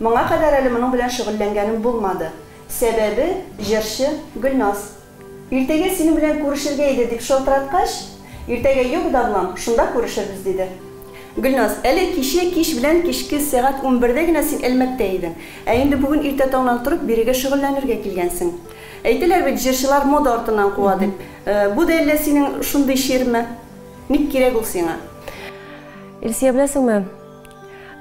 Моңа кадәр әле моның белән шөгыльләнгәнем булмады. Сәбәбе, җырчы, Гөлназ. Иртәгә синең белән күрешергә иде, дип шылтыраткач, Иртәгә юк, Давлам, шунда күрешербез, диде. Гөлназ, әле кичә кич белән кичке сәгать унбердә генә син Әлмәттә идең, ә инде бүген иртә таңнан торып бирегә шөгыльләнергә килгәнсең. Әйтәләр бит, җырчылар мода артыннан куа, дип. Бу да әллә синең шундый чирме? Ник кирәк ул сиңа? Илсөя, беләсеңме?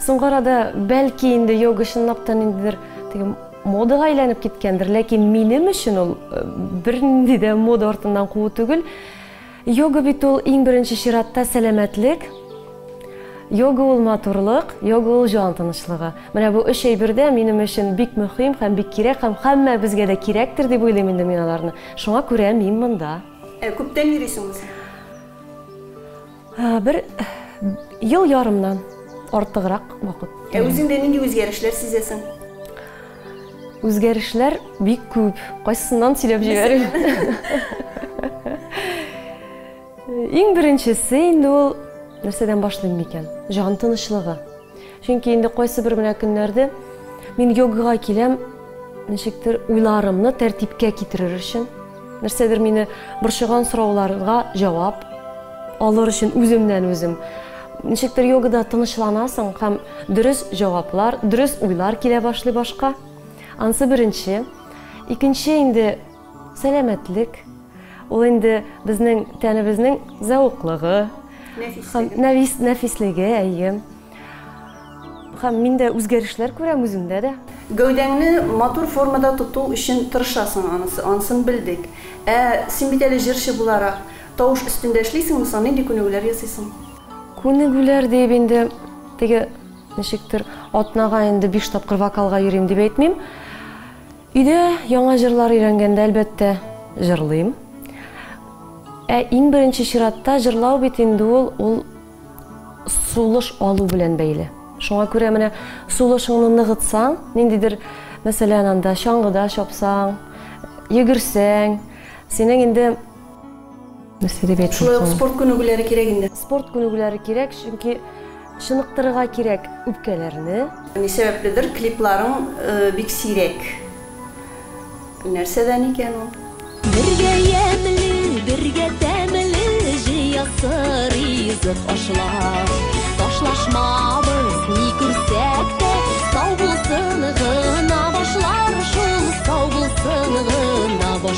Соңгы арада, бәлки инде йога чынлап та ниндидер теге модага әйләнеп киткәндер, ләкин минем өчен ул бернинди дә мода артыннан куу түгел. Йога бит ул иң беренче чиратта сәламәтлек, Йога ул матурлык, йога ул җан тынычлыгы. Менә бу өч әйбер дә минем өчен бик мөһим һәм бик кирәк һәм һәммәбезгә дә кирәктер дип уйлыйм инде мин аларны. Шуңа күрә мин монда. Ә күптән йөрисең үзең? Бер ел ярымнан артыграк вакыт. Ә үзеңдә нинди үзгәрешләр сизәсең? Үзгәрешләр бик күп. Кайсыннан сөйләп җибәрим? Иң беренчесе инде ул нәрсәдән башлыйм микән? Җан тынычлыгы. Чөнки инде кайсыбер менә көннәрдә мин йогага киләм, ничектер уйларымны тәртипкә китерер өчен, нәрсәдер мине борчыган сорауларга җавап алыр өчен үземнән үзем. Ничектер йогада тынычланасың һәм дөрес җаваплар, дөрес уйлар килә башлый башка. Ансы беренче. Икенче инде Сәламәтлек, ул инде безнең тәнебезнең зәвыклыгы, нәфис, нәфислеге, әйе. Хәм мин дә үзгәрешләр күрәм үземдә дә. Гәүдәңне матур формада тоту өчен тырышасың, анысы, анысын белдек. Ә син бит әле җырчы буларак, тавыш өстендә эшлисеңме соң, нинди күнегүләр ясыйсың? Күнегүләр диеп инде теге ничектер атнага инде биш тапкыр вокалга йөрим дип әйтмим. Өйдә яңа җырлар өйрәнгәндә, әлбәттә, җырлыйм. Ә иң беренче чиратта җырлау бит инде ул, ул сулыш алу белән бәйле. Шуңа күрә менә сулышыңны ныгытсаң, ниндидер, мәсәлән, анда чаңгыда чапсаң, йөгерсәң, синең инде Шулай ук спорт күнегүләре кирәк инде. Спорт күнегүләре кирәк, чөнки чыныктырырга кирәк үпкәләрне. Ни сәбәпледер клипларың бик сирәк. Нәрсәдән икән ул? Бергә ямьле, бергә тәмле җыясы ризык ашлар. Ташлашмабыз, ни күрсәк тә, сау булсын гына башлар шул, сау булсын гына башлар.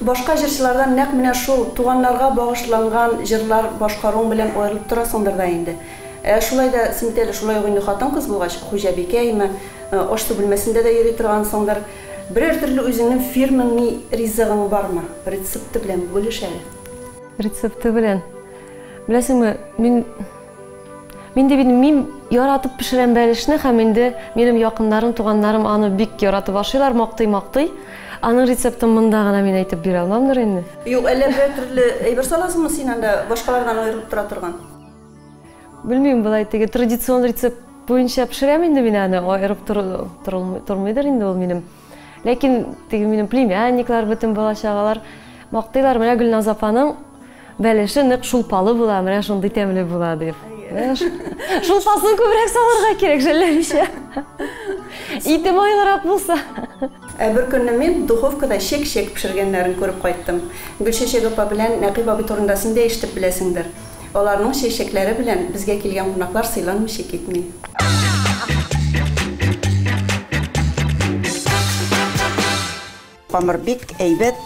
Башка җырчылардан нәкъ менә шул туганнарга багышланган җырлар башкаруың белән аерылып торасыңдыр да инде. Ә шулай да син бит әле шулай ук инде хатын-кыз булгач, хуҗабикәме, аш-су бүлмәсендә дә йөри торгансыңдыр. Берәр төрле үзеңнең фирменный ризыгың бармы? Рецепты белән бүлеш әле. Рецепты белән. Беләсеңме, мин. Мин дип инде мин яратып пешерәм бәлешне һәм инде минем якыннарым, туганнарым аны бик яратып ашыйлар, мактый-мактый. Аның рецептын монда гына мин әйтеп бирә алмамдыр инде. Юк, әллә берәр төрле әйбер саласызмы син анда, башкалардан аерылып тора торган? Белмим, болай теге традицион рецепт буенча пешерәм инде мин аны, аерып торылмый, тормыйдыр инде ул минем. Ләкин теге минем племянниклар, бөтен бала чагалар мактыйлар, менә Гөлназ апаның бәлеше нык шулпалы була, менә шундый тәмле була дип. Шулпасын күбрәк салырга кирәк жәлләмичә. Ите майлырак булса. Ә бер көнне мин духовкада чек-чек пешергәннәрен күреп кайттым. Гөлчәчәк апа белән Нәкыйп абый турында син дә ишетеп беләсеңдер. Аларның чәчәкләре белән безгә килгән кунаклар сыйланмыйча китми. Камыр бик әйбәт,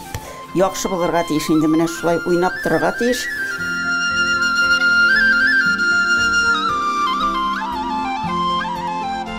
яхшы булырга тиеш инде, менә шулай уйнап торырга тиеш.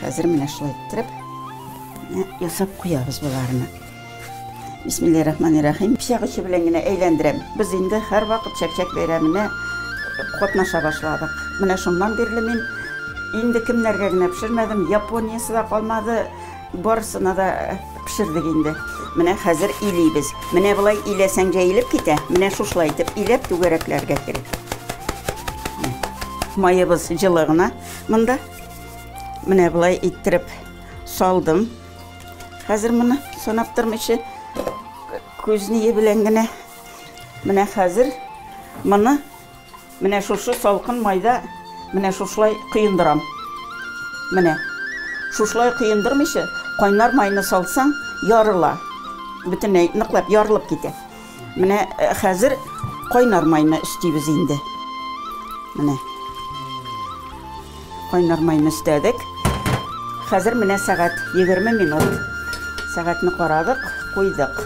Хәзер менә шулай иттереп ясап куябыз боларны. Бисмиллаһи рахмани рахим. Пичак очы белән генә әйләндерәм. Без инде һәрвакыт чәкчәк бәйрәменә катнаша башладык. Менә шуннан бирле мин инде кемнәргә генә пешермәдем, Япониясы да калмады, барысына да пешердек инде. Менә хәзер илибез. Менә болай иләсәң җәелеп китә. Менә шушылай итеп иләп түгәрәкләргә кирәк. Маебыз җылы гына монда. Менә болай иттереп салдым. Хәзер моны санап тормыйча күзне белән генә менә хәзер моны менә шушы салкын майда менә шушылай коендырам. Менә шушылай коендырмыйча кайнар майны салсаң ярыла. Бөтенләй ныклап ярылып китә. Менә э, хәзер кайнар майны өстибез инде. Менә. Кайнар майны өстәдек. Хәзер менә сәгать 20 минут. Сәгатьне карадык, куйдык.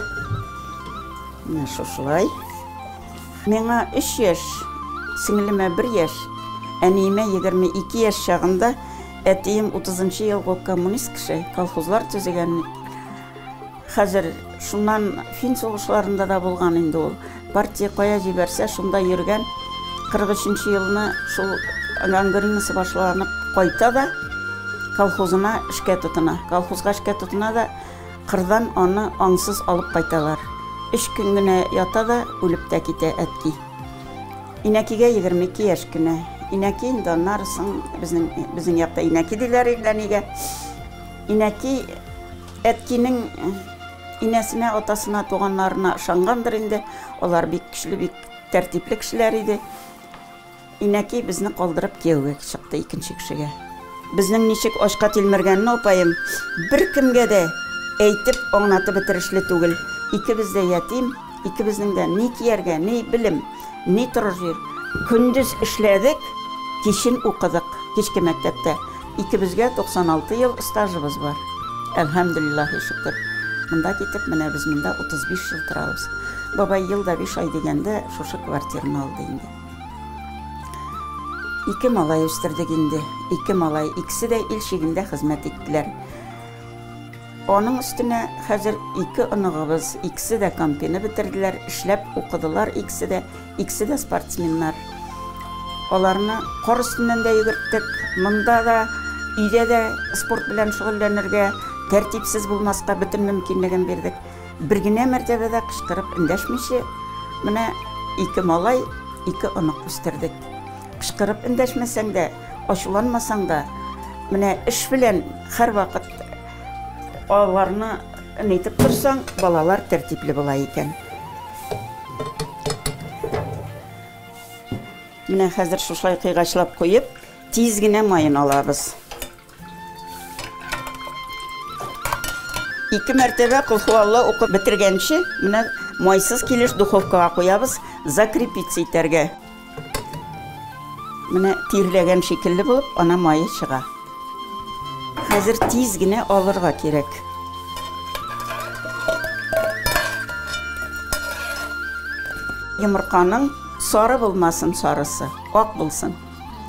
Менә шушылай. Миңа 3 яшь, сеңлемә 1 яшь, әниемә 22 яшь чагында әтием 30 елгы коммунист кеше, колхозлар төзегән. Хәзер шуннан фин сугышларында да булган инде ул. Партия кая җибәрсә, шунда йөргән. 43 елны шул гангринасы башланып кайта да колхозына эшкә тотына. Колхозга эшкә тотына да кырдан аны аңсыз алып кайталар. Өч көн генә ята да үлеп тә китә әтки. Инәкигә 22 яшь кенә. Инәки инде аннары соң безнең безнең якта инәки диләр инде әнигә. Инәки Әткинең инәсенә, атасына, туганнарына ышангандыр инде. Алар бик көчле, бик тәртипле кешеләр иде. Инәки безне калдырып кияүгә чыкты икенче кешегә. Безнең ничек ачка тилмергәнне апаем беркемгә дә әйтеп, аңлатып бетерешле түгел. Икебез дә ятим, икебезнең дә ни кияргә, ни белем, ни торыр җир. Көндез эшләдек, кичен укыдык, кичке мәктәптә. Икебезгә 96 ел стажыбыз бар. Әлхәмдүлиллаһи шөкер. Монда китеп, менә без монда 35 ел торабыз. Бабай ел да биш ай дигәндә шушы квартираны алды инде. Ике малай үстердек инде. Ике малай, икесе дә ил чигендә хезмәт иттеләр. Аның өстенә хәзер ике оныгыбыз, икесе дә кампины бетерделәр, эшләп укыдылар икесе дә. Икесе дә спортсменнар. Аларны кар өстеннән дә йөгерттек. Монда да, өйдә дә спорт белән шөгыльләнергә, тәртипсез булмаска бөтен мөмкинлеген бирдек. Бер генә мәртәбә дә кычкырып эндәшмичә, менә ике малай, ике онык үстердек. Кычкырып эндәшмәсәң дә, ачуланмасаң да, менә эш белән һәрвакыт аларны Нитеп торсаң, балалар тәртипле була икән. Менә хәзер шушай кыйгачлап куеп, тиз генә майын алабыз. Ике мәртәбә кулхуалла укып бетергәнче, менә майсыз килеш духовкага куябыз, закрепиться итәргә. Менә тирләгән шикелле булып, ана мае чыга. Хәзер тиз генә алырга кирәк. Йомырканың сары булмасын сарысы, ак булсын.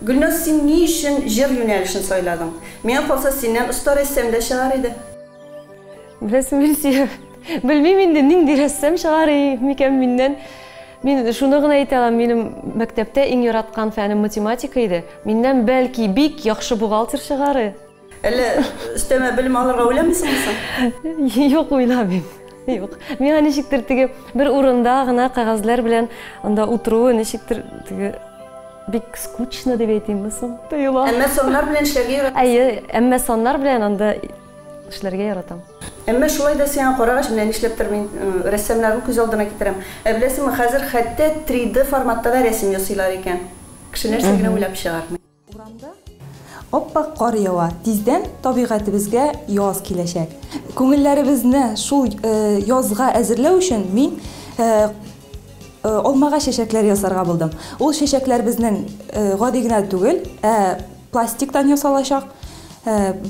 Гөлназ, син ни өчен җыр юнәлешен сайладың? Миңа калса, синнән оста рәссам да чыгар иде. Без Мирзиев. Белмим инде, нинди рәссам чыгар и микән миннән. Мин шуны гына әйтә алам, минем мәктәптә иң яраткан фәнем математика иде. Миннән, бәлки, бик яхшы бухгалтер чыгар и. Әллә өстәмә белем алырга уйламыйсыңмы соң? Юк, уйламыйм. Юк. Миңа ничектер теге бер урында гына кәгазьләр белән анда утыруы ничектер теге бик скучно дип әйтимме соң? Тоела. Әмма саннар белән эшләргә яратам. Әйе, әмма саннар белән анда эшләргә яратам. Әмма шулай да сиңа карагач, менә нишләптер мин рәссамнарны күз алдына китерәм. Ә беләсеңме, хәзер хәтта 3D форматта да рәсем ясыйлар икән. Кеше нәрсә генә уйлап чыгармый. Урамда ап-ак кар ява. Тиздән табигатебезгә яз киләчәк. Күңелләребезне шул язга әзерләү өчен мин алмага чәчәкләр ясарга булдым. Ул чәчәкләр безнең гади генә түгел, ә пластиктан ясалачак.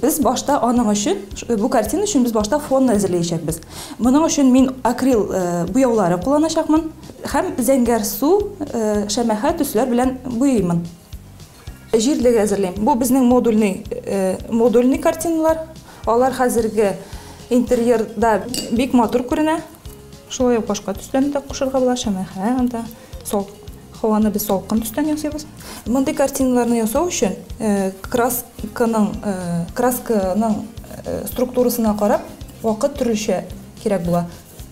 Без башта аның өчен, бу картина өчен без башта фонны әзерләячәкбез. Моның өчен мин акрил буяулары кулланачакмын һәм зәңгәр су, шәмәхә төсләр белән буйыймын. Җирлеге әзерлим. Бу безнең модульный, модульный картиналар. Алар хәзерге интерьерда бик матур күренә. Шулай ук башка төсләрне дә кушырга була, шәмәхә, анда сал, һаваны без салкын төстән ясыйбыз. Мондый картиналарны ясау өчен красканың, красканың структурасына карап, вакыт төрлечә кирәк була.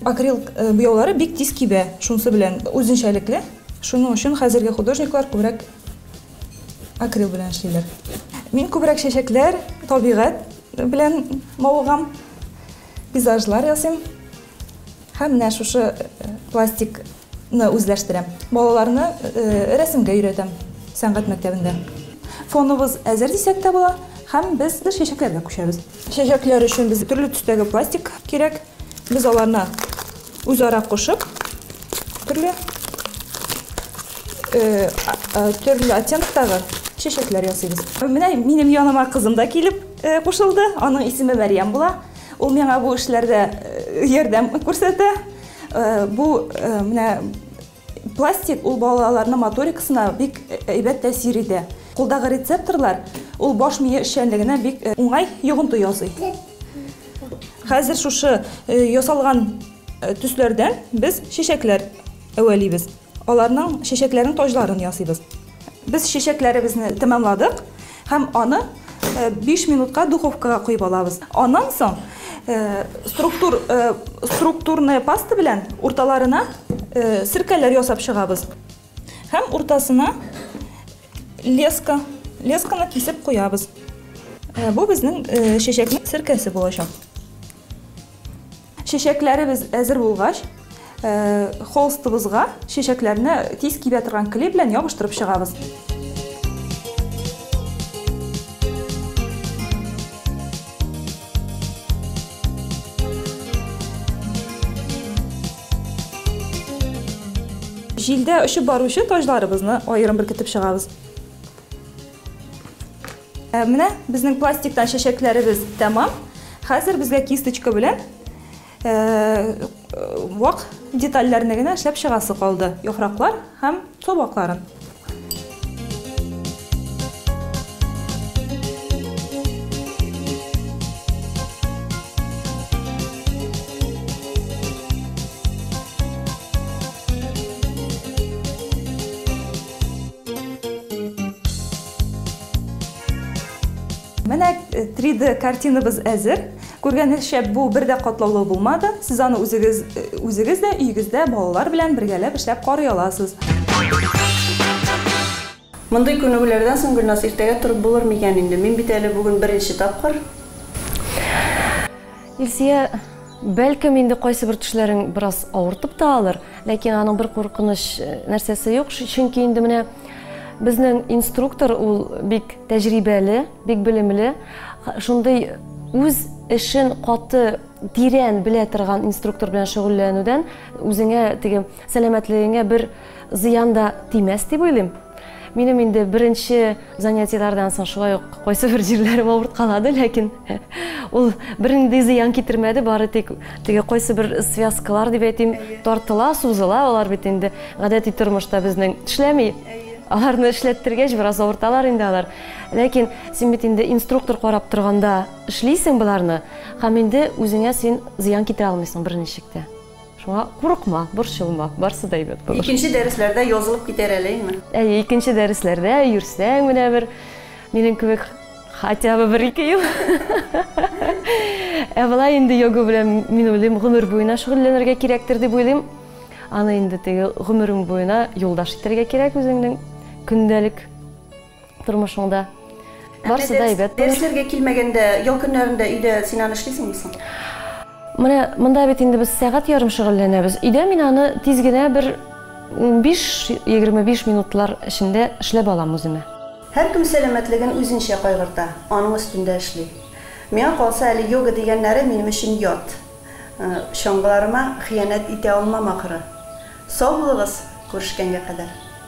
Акрил э, буяулары бик тиз кибә, шунысы белән үзенчәлекле. Шуның өчен хәзерге художниклар күбрәк акрил белән эшлиләр. Мин күбрәк чәчәкләр, табигать белән мавыгам, пейзажлар ясыйм. Һәм менә шушы э, пластик ны үзләштерәм. Балаларны рәсемгә өйрәтәм сәнгать мәктәбендә. Фоныбыз әзер дисәк тә була һәм без чәчәкләргә күчәбез. Чәчәкләр өчен безгә төрле төстәге пластик кирәк. Без аларны үзара кушып, төрле төрле оттенктагы чәчәкләр ясыйбыз. Менә минем яныма кызым да килеп кушылды. Аның исеме Мәрьям була. Ул миңа бу эшләрдә ярдәм күрсәтә. Бу менә пластик ул балаларның моторикасына бик әйбәт тәэсир итә. Кулдагы рецепторлар ул баш мие эшчәнлегенә бик уңай йогынты ясый. Хәзер шушы ясалган төсләрдән без чәчәкләр әвәлибез. Аларның чәчәкләрен таҗларын ясыйбыз. Без чәчәкләребезне тәмамладык һәм аны биш минутка духовкага куеп алабыз. Аннан соң структур структурная паста белән урталарына серкәләр ясап чыгабыз һәм уртасына леска лесканы кисеп куябыз. Бу безнең чәчәкнең серкәсе булачак. Чәчәкләребез әзер булгач, холстыбызга чәчәкләрне тиз кибә торган клей белән ябыштырып чыгабыз. Җилдә очып баручы таҗларыбызны аерым беркетеп чыгабыз. Ә менә безнең пластиктан чәчәкләребез тәмам. Хәзер безгә кисточка белән вак детальләрне генә эшләп чыгасы калды. Яфраклар һәм табакларын. Менә 3D э, картинабыз әзер. Күргәнегезчә, бу бер дә катлаулы булмады. Сез аны үзегез э, үзегез дә өегездә балалар белән бергәләп эшләп карый аласыз. Мондый күнегүләрдән соң Гөлназ иртәгә торып булыр микән инде? Мин бит әле бүген беренче тапкыр. Илсия, бәлкем инде кайсыбер төшләрең бераз авыртып та алыр, ләкин аның бер куркыныч э, нәрсәсе юк, чөнки инде менә безнең инструктор ул бик тәҗрибәле, бик белемле, шундый үз эшен каты тирән белә торган инструктор белән шөгыльләнүдән үзеңә теге сәламәтлегеңә бер Зыян да тимәс дип уйлыйм. Минем инде беренче занятиеләрдән соң шулай ук кайсы бер җирләрем авырткалады, ләкин ул бернинди зыян китермәде, бары тик теге кайсы бер связкалар дип әйтим, тартыла, сузыла, алар бит инде гадәти тормышта безнең эшләми. Аларны эшләттергәч, бераз авырталар инде алар. Ләкин син бит инде инструктор карап торганда эшлисең боларны, һәм инде үзеңә син зыян китерә алмыйсың берничек тә. Шуңа курыкма, борчылма, барсы да әйбәт булыр. Икенче дәресләрдә язылып китәр әле, әйме? Әйе, икенче дәресләрдә йөрсәң менә бер минем кебек хотя бы бер ике ел. Ә болай инде йога белән мин уйлыйм, гомер буена шөгыльләнергә кирәктер дип уйлыйм. Аны инде теге гомерең буена юлдаш итәргә кирәк үзеңнең көндәлек Тормышыңда барысы да әйбәт булыр. Дәресләргә килмәгәндә, ял көннәрендә өйдә син аны эшлисеңме соң? Менә монда бит инде без сәгать ярым шөгыльләнәбез. Өйдә мин аны тиз генә бер 15-25 минутлар эчендә эшләп алам үземә. Һәркем сәламәтлеген үзенчә кайгырта, аның өстендә эшли. Миңа калса, әле йога дигәннәре минем өчен ят. Чаңгыларыма хыянәт итә алмам, ахры. Сау булыгыз, күрешкәнгә кадәр.